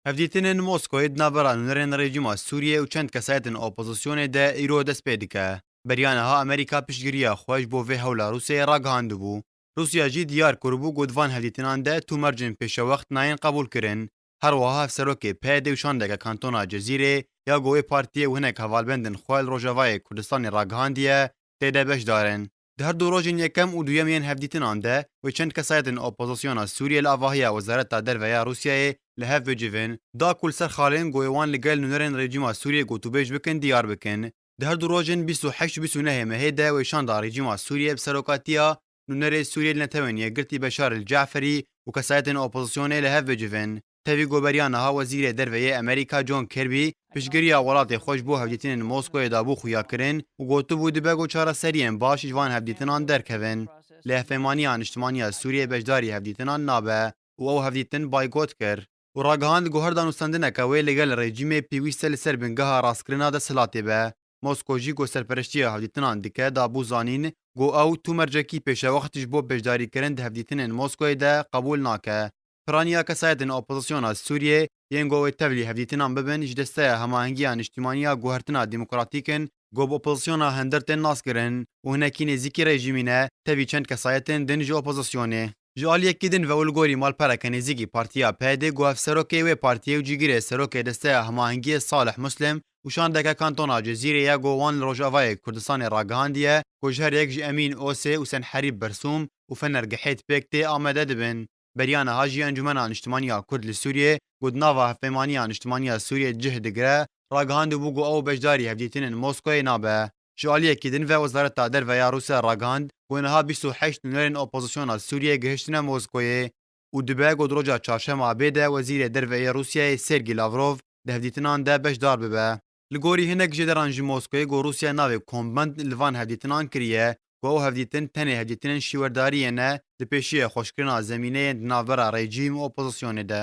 Hevdîtinên Moskoyê di navbera nûnerên rejîma Sûriyê û çend kesayetên opozisyonê de îro dest pê dike. Beriya niha Amerîka piştgiriya xwe ji bo vê hewla Rûsyayê ragihandibû. Rûsya jî diyar kiribû ku di van hevdîtinan de tu mercên pêşewext nayên qebûlkirin. Her wiha hevserokê PYD û şandeke kantona Cezîrê ya ku wê partiyê û hinek hevalbendên xwe li Rojavayê Kurdistanê ragihandiye tê de beşdarin. Di her du rojên yekem û duyem yên hevdîtinan de wê çend kesayetên opozisyona Sûriyê li avahiya Wezareta Derve ya Rûsyayê li hev bicivin da ku li ser xalên ku wê wan li gel nûnerên rejîma Sûriyê gotûbêj bikin diyar bikin. Di her du rojên bîst û heşt û bîst û nehê mehê de wê şan da rejîma Sûriyê bi serokatiya nûnerê Sûriyê li Netewên Yekgirtî Beşar el-Ce'ferî û kesayetên opozisyonê li hev bicivin. Tevî goveriya niha Wezîrê Derve yê Amerîka John Kirby piştgiriya welatê xwe ji bo hevdîtinên Moskoyê dabû xuyakirin û gotibû dibe ku çareseriyên baş ji van hevdîtinan derkevin. Lê Hevpeymaniya Niştimaniya Sûriyê beşdarî hevdîtinan nabe û ew hevdîtin baygot kir û ragihand ku her danûstandineke wê li gel rejîmê pêwîste li ser bingeha rastkirina desthilatê be. Mosko jî ku serpereştiya hevdîtinan dike dabû zanîn ku ew tu mercekî pêşewext ji bo beşdarîkirin di hevdîtinên Moskoyê de qebûl nake. Piraniya kesayetên opozisyona Sûriyê yên ku wê tevlî hevdîtinan bibin ji desteya hemahengiya niştimaniya guhertina demokratîk in ku bi opozisyona hindir tên naskirin û hinekî nêzîkî rejîmî ne tevî çend kesayetên din ji opozisyonê. Ji aliyekî din ve û li gorî malpereke nêzîkî partiya PYDê ku hevserokê wê partiyê û cîgirê serokê desteya hemahengiyê Salih Muslim û şandeke kantona Cezîrê ye ku wan li Rojavayê Kurdistanê ragihandiye ku ji her yek ji Emîn Osê û Senherîb Bersûm û Fener Gihêt pêk tê Amedê dibin. Beriya niha jî Encûmena Niştimanî ya Kurd li Sûriyeyê ku di nava Hevpeymaniya Niştimanî ya Sûriyeyê cih digire, ragihandibû ku ew beşdarî hevdîtinên Moskoyê nabe. Ji aliyekî din ve Wezareta Derve ya Rûsya ragihand ku niha bîst û heşt nûnerên opozisyona Sûriyeyê gihiştine Moskoyê û dibe ku di roja Çarşema abê de Wezîrê Derve yê Rûsyayê Sergî Lavrov di hevdîtinan de beşdar bibe. Li gorî hinek jêderan ji Moskoyê ku Rûsya navê kombend li van hevdîtinan kiriye ku ew hevdîtin tenê hevdîtinên şîwerdariyê ne di pêşiya xweşkirina zemîneyên di navbera rejîm û opozisyonê de.